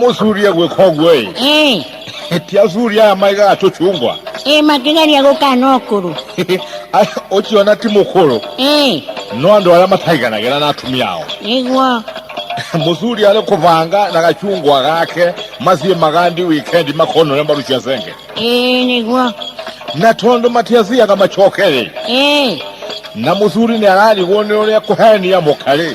mũcuria gwĩka ũguo ĩ Eh, ti acuria aya maigaga tũcungwa eh, makigeria gũkana ũkũrũ. Aya, ũcio ona ti mũkũrũ Eh, no andũ arĩa mataiganagĩra na atumia ao nĩguo. mũcuri arĩ kũbanga na gacungwa gake maciĩ magandi wikendi makona ũrĩa marucia cenge Eh, nĩguo. na tondũ matiaciaga macokerĩ Eh, na mũcuri nĩ ararigwo nĩ ũrĩa kũhenia mũkarĩ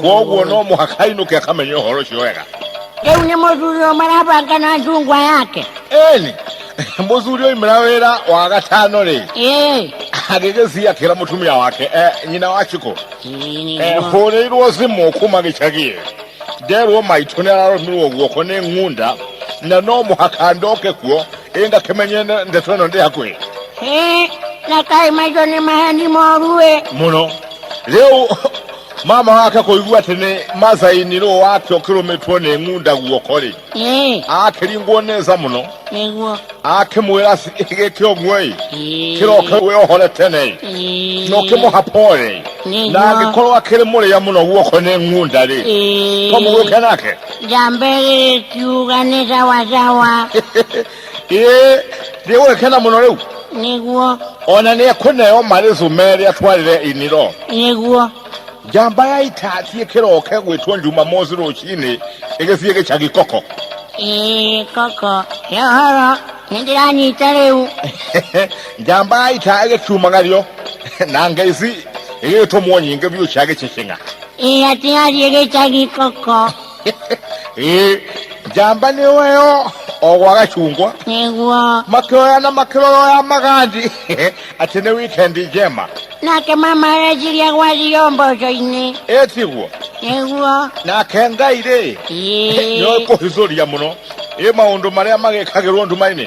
kwoguo no må haka ainũke akamenye ũhoro ũcio wega rä u nä må thuri å marabanga na njungwa yake eni må thuri oimĩra wĩra wa gatano rĩ Ĩĩ. agĩgĩthiĩ akĩra mũtumia wake eh, nyina wa cikũ Eh, hũrĩirwo thimũ kuma gĩcagi nderwo maitũ nĩ araromirwo guoko nĩ ng'unda na no mũhaka ndoke kuo ĩ ngakĩmenye nde- ndeto ĩno ndĩ hakuhĩ Ĩĩ, na kaĩ maitå nä maheni moru ä mũno rĩu mama wake kũigua atĩ nĩ macaini rũũ wake ũkĩrũmĩtwo nĩ ng'unda guoko-rĩ ĩĩ akĩringwo nĩ nza mũno nĩguo akĩmwĩra gĩkĩ ũguo-ĩ Ĩĩ. kĩroke wĩohore tene-ĩ Ĩĩ. na ũkĩmũhapore na nĩguo angĩkorwo akĩrĩ mũrĩa mũno guoko nĩ ng'unda-rĩ Ĩĩ. tomũgũke nake njamba ĩrĩ kiuga nĩ sawasawa ĩĩ ndĩgũgĩkena mũno rĩu nĩguo ona nĩ ekũneo marĩ cumeri atwarĩre iniro nĩguo njamba ya ita thiĩ kĩroke gwĩtwo njuma mosi rũcinĩ ĩgĩthiĩ gĩcagi koko ĩĩ koko he ũhoro nĩ ndĩranyita rĩu njamba ya ita ĩgĩkiumagario na ngeici ĩgĩgĩtũmwo nyingĩ biũ cia gĩcicing'a ĩĩ atigathiĩ gĩcagi koko Ĩ, njamba nĩ weo o gwa gacungwa nĩguo makĩoya na makĩroro ya magandi atĩ nĩ wikendi njema nake mama areciria gwathio mboco-inĩ ĩtiguo nĩguo nake ngai-rĩ nĩ ĩĩ kũhithũria mũno ĩ maũndũ marĩa magĩkagĩrwo nduma-inĩ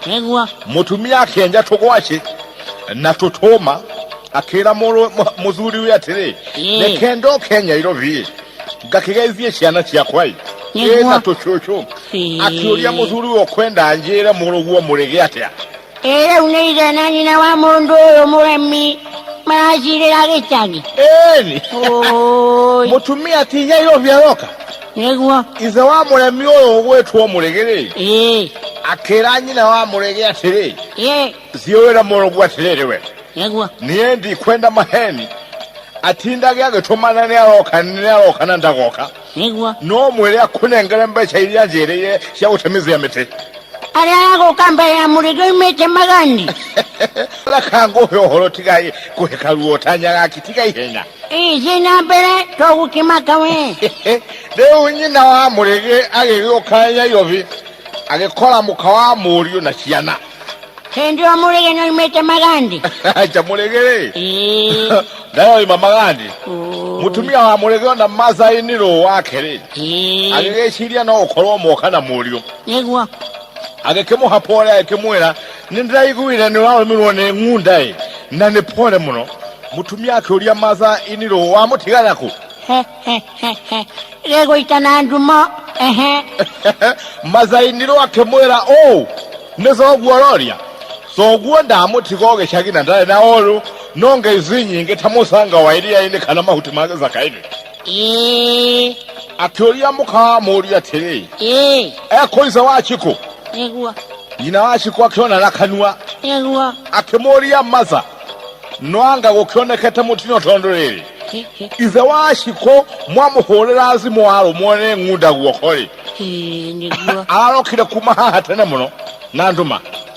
Kegwa. Mũtumia akĩenja tũgwacĩ na tũtũma akĩra mũthuri we atĩrĩ reke ndoke nyairobi ngakĩgeithie ciana ciakwa ĩ ĩ na tũcũcũ akĩũria mũthuri we kwenda njĩre mũrũguo mũrĩgĩ atĩa ĩ rĩu nĩ ithe na nyina wa mũndũ ũyũ mũremi maracirĩra gĩcagi ĩni mũtumia ti nyairobi aroka nĩguo ithe wa mũremi ũyũ ũgwĩtwo mũrĩgĩrĩ ĩĩ akĩra nyina wa mũrĩgĩ atĩrĩ ĩĩ thiũwĩra mũrũgu atĩrĩrĩ we nĩguo niĩ ndikwenda maheni atindage agĩtũmana nĩ aroka nĩ aroka na ndagoka nĩguo no mwĩre akũnengere mbeca iria njĩrĩire cia gũtemithia mĩtĩ arĩa agũka mbere ya mũrĩgĩ oimĩte magani reka ngũhe ũhoro tigai kũheka ruo tanyaga akitiga ihenya Ici na mbere tũgũkĩmaka we. rĩu nyina wa mũrĩgĩ agĩgĩũka nyairobi agĩkora mũka wa mũriũ na ciana Hĩndĩ ĩyo mũrĩge nĩoimĩte magandi. aca mũrĩgĩ rĩ Ĩĩ. ndayoima magandi Ũ- mũtumia wa mũrĩgĩ ona masai nĩrũ wake rĩ Ĩĩ. agĩgĩciria no gũkorwo moka na mũriũ Nĩguo. agĩkĩmũhapa ũrĩa agĩkĩmwĩra Nĩndaiguire nĩwaumirwo nĩ ng'unda-ĩ, na nĩ pole mũno. Mũtumia akĩũria Martha, ĩ nĩrũ wamũtiga naku? gĩgũita na ndumo Martha ĩ nĩrũ akĩmwĩra ũũ, nĩ thoguo ũroria? Thoguo ndamũtiga o gĩcagi na ndarĩ na ũũru, no ngai ici nyingĩ ta mũcanga wa iria-inĩ kana mahuti ma gĩthaka-inĩ. ĩĩ akĩũria mũkamũũria atĩrĩ ĩĩ ekũiza wacikũ nĩguo nyina wacikũ akĩona na kanua nĩguo akĩmũũria maza nwanga gũkĩonekete mũtino tondũ rĩrĩ Hĩ, hĩ, ithe wacikũ mwamũhũrĩra thimũ warũmwo nĩ ng'unda guoko-rĩ hĩ, nĩguo ararokire kuma haha tene mũno na nduma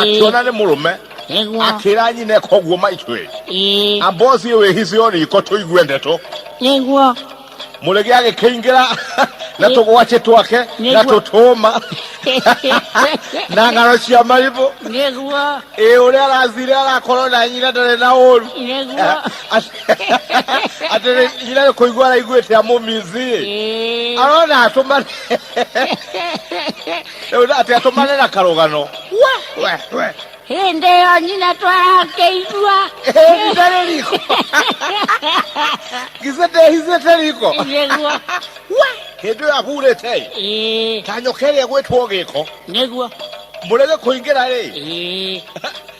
akĩona nĩ mũrũme akĩra nyine koguo maitwĩ ambosi wĩhicio riko tũigue ndeto nĩguo mũrege agĩkĩingĩra na tũgwaci twake na tũtũma na ng'ano cia maribũ nĩguo ĩ ũrĩa arathire arakorwo na nyina ndarĩ na ũru nĩguo atĩ nyina nĩ kũigua araiguĩte amũmizi arona atũmane rĩu atĩ atũmane na karũgano we we we hĩndĩ ĩyo nyina twarakĩigua ndĩrĩ riko githĩ ndehithĩte riko nĩguo hĩndĩ ĩyo ahurĩte ĩ Ĩĩ, ta nyoka ĩrĩa ĩgwĩtwo gĩko nĩguo mũrege kũingĩra rĩ Ĩĩ.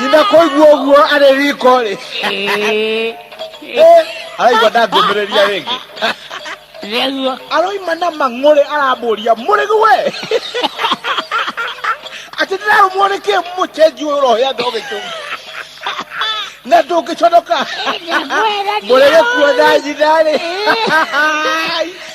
nyina koigua ũguo arĩ riko rĩ araigua ndangũmĩrĩria rĩngĩ nĩguo aroima na mang'ũrĩ arambũria mũrĩgu we atĩ ndĩrarũmwo nĩ kĩ mũcenji ũyũ ũrohĩa ndogĩkĩ na ndũngĩconoka mũrĩgĩkuo na nyina rĩ